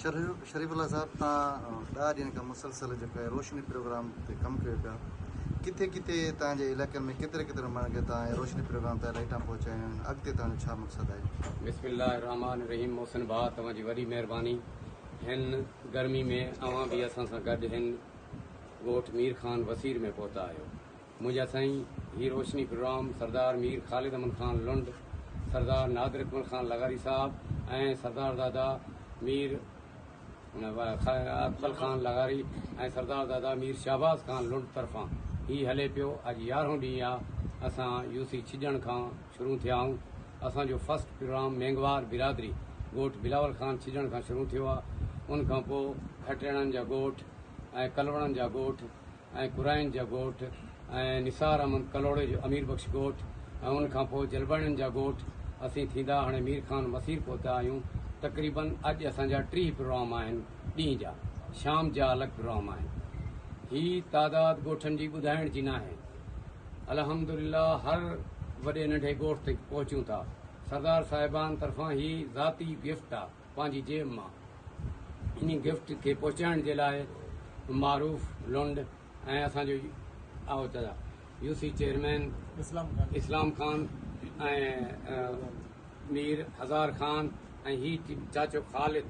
شريف الله صاحب تان ڏهه ڏينهن کان مسلسل جيڪو هي روشني پروگرام تي ڪم ڪيو پيا ڪٿي ڪٿي تان جي علائقن ۾ ڪيتري ڪيتري ماڻهن کي تان هي روشني پروگرام تان لائيٽان پهچايون آهن اڳتي تان جو ڇا مقصد آهي. بسم الله الرحمٰن الرحيم محسن ڀاء توهان جي وڏي مهرباني هن گرمي ۾ اوهان به اسان سان گڏ هن ڳوٺ ميرخان وسير ۾ پهتا آهيو منهنجا سائين هي روشني پروگرام سردار مير خالد امن خان لنڊ، سردار نادر اڪمل خان لغاري صاحب ۽ سردار دادا مير اڪمل خان لغاري ۽ سردار دادا مير شهباز خان لنڊ طرفان هي هلي پيو اڄ يارهون ڏينهن آ اسان يو سي ڇڄڻ کان شروع ٿيا آهون اسان جو فرسٽ پروگرام مينگهوار برادري ڳوٺ بلاول خان ڇڄڻ کان شروع ٿيو آ ان کان پو کٽيڻن جا ڳوٺ ۽ ڪلوڻن جا ڳوٺ ۽ قرائين جا ڳوٺ ۽ نثار احمد ڪلهوڙي جو امير بخش ڳوٺ ۽ ان کان پوء جلباڻين جا ڳوٺ اسين ٿيندا هاڻي مير خان مسير پهتا آهيون تقريباً اڄ اسان جا ٽيهه پروام آهن ڏينهن جا شام جا الڳ پروام آهن هي تعداد ڳوٺن جي ٻڌائڻ جي ناهي الحمدلله هر وڏي ننڍي ڳوٺ تي پهچون ٿا سردار صاحبان طرفان هي ذاتي گفٽ آهي پنهنجي جيب مان انهي گفٽ کي پهچائڻ جي لاء معروف لنڊ ۽ اسان جو آء چيا U C chairman Islam Khan ۽ Mir Hazar Khan ۽ هي چاچو خالد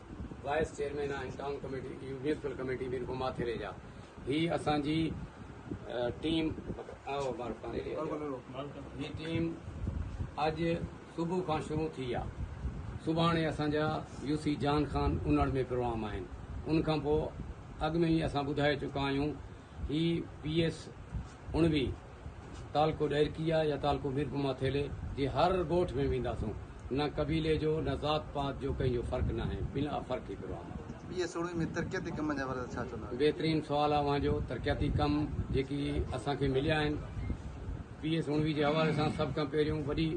وائيس چيئرمين آهن town committee municipal committee Mirpur Mathelo جا هي اسان جي ٽيم آء معروف خان هي ٽيم اڄ صبح کان شروع ٿي آ. سڀاڻي اسان جا يو سي جان خان انڙ ۾ پروام آهن. ان کان پوء اڳ ۾ ئي اسان ٻڌائي چڪا آهيون هي پي ايس اڻوي تعلقو ڏهرڪي آ يا تعلقو ميرپما ٿيلي جي هر ڳوٺ ۾ وينداسون. نه قبيلي جو نه ذات پات جو ڪنهن جو فرق ناهي بلا فرق هي پروام آ. پي ايس اڻوي ۾ ترقياتي ڪمن جا باري ۾ ڇا چوندا؟ بهترين سوال آ اوهان جو. ترقياتي ڪم جيڪي اسان کي مليا آهن. پي اي سوڻوي جي حوالي سان سڀ کان پهريون وڏي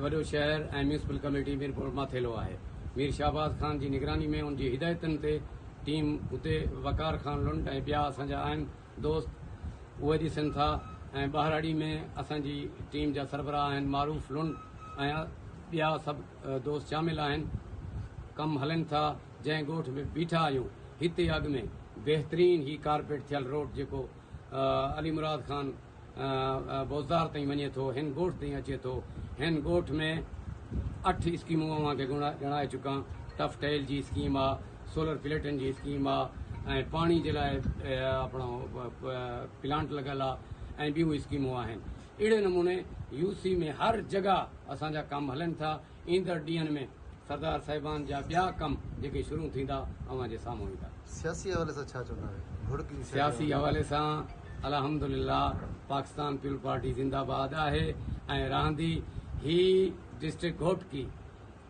وڏو شهر ۽ ميونسپل ڪميٽي ميرپور ماٿيلو آهي. مير شهباز خان جي نگراني ۾ ان جي هدايتن تي ٽيم اتي وقار خان لنڊ ۽ ٻيا اسان جا اهم دوست اهي ڏسن ٿا ۽ ٻهراڙي ۾ اسان جي ٽيم جا سربراهه آهن معروف لنڊ ۽ ٻيا سڀ دوست شامل آهن ڪم هلن ٿا جنهن ڳوٺ ۾ بيٺا آهيون هتي اڳ ۾ بهترين هي ڪارپيٽ ٿيل روڊ جيڪو علي مراد خان بوزدار تائين وڃي ٿو ھن ڳوٺ تائين اچي ٿو ھن ڳوٺ ۾ اٺ اسڪيمون اوھان کي ڄاڻائي چڪان ٽف ٽيل جي اسڪيم آ سولر پليٽن جي اسڪيم آ ۽ پاڻي جي لاء اپڻو پلانٽ لڳل آ ۽ ٻيون اسڪيمون آھن اھڙي نموني يو سي ۾ ھر جڳھ اسان جا ڪم ھلن ٿا ايندڙ ڏينهن ۾ سردار صاحبان جا ٻيا ڪم جيڪي شروع ٿيندا اوهان جي سامهون ايندا. سياسي حوالي سان ڇا چوندا اهي گهڙ ڪي سياسي حوالي سان. سياسي حوالي سان الحمدلله پاڪستان پيپلز پارٽي زنده باد آهي ۽ رهندي هي ڊسٽرڪٽ گهوٽڪي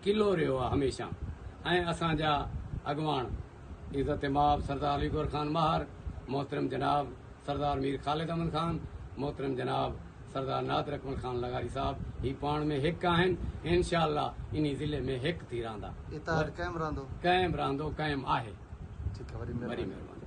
قلعو رهيو آهي هميشه ۽ اسان جا اڳواڻ. عزت مآب سردار علي گوهر خان ماهر، محترم جناب سردار مير خالد احمد خان، محترم جناب سردار نادر اڪمل خان لغاري صاحب هي پاڻ ۾ هڪ آهن ۽ انشاء الله انهي ضلعي ۾ هڪ ٿي رهندا. اتحاد قائم رهندو. قائم رهندو قائم آهي. ٺيڪ آهي وري مهرباني.